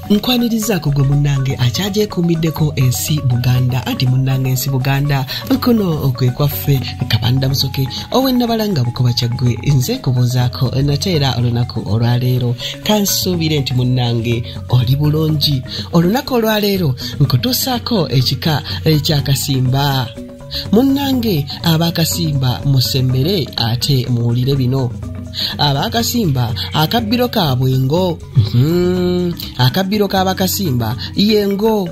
nkwanirizaako gwe munnange akyagyekuumiddeko ensi buganda anti munnange ensi buganda kuno kwe kwaffe kabanda musoke owennabala nga bukoba kyaggwe nze kubuuzaako nate era olunaku olwaleero kansuubire nti munnange oli bulungi olunaku olwaleero nkutuusaako ekika ekyakasimba munnange abaakasimba musembere ate muwulire bino abaakasimba akabbiro kaabwe ngo hmm, akabbiro k'abakasimba ye ngo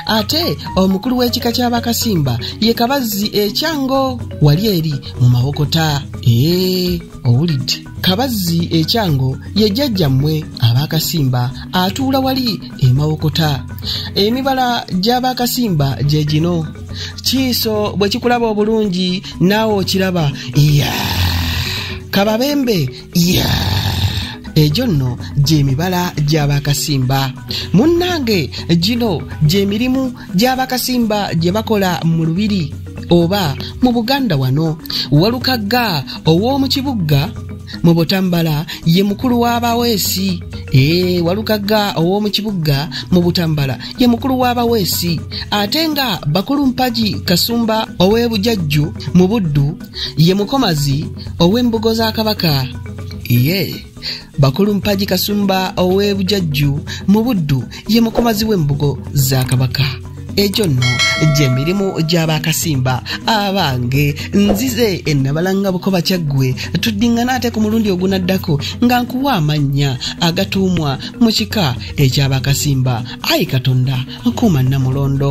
ate omukulu w'ekika ky'abakasimba ye kabazzi ekyango wali eri mu mawokota ee owulidde kabazzi ekyango ye jjajja mmwe abaakasimba atuula wali emawokota emibala gy'abaakasimba gye gino kiiso bwe kikulaba obulungi naawe okiraba iya kababembe iya egyo nno gy'emibala gy'abaakasimba munnange gino gy'emirimu gy'abaakasimba gye bakola mu lubiri oba mu buganda wano walukagga ow'omu kibugga mu butambala ye mukulu w'abaweesi ee walukagga ow'omu kibugga mu butambala ye mukulu w'abaweesi ate nga bakulu mpagi kasumba ow'ebujajju mu buddu ye mukomazi ow'embugo za kabaka yee yeah. bakulu mpagi kasumba ow'e bujajju mu buddu ye mukomazi w'embugo za kabaka egyo nno gye mirimu gy'abaakasimba abange nzize ennabalanga bukoba kyaggwe tuddingana ate ku mulundi ogunaddako nga nkuwa amannya agatuumwa mu kika eky'abaakasimba ayi katonda nkuuma nnamulondo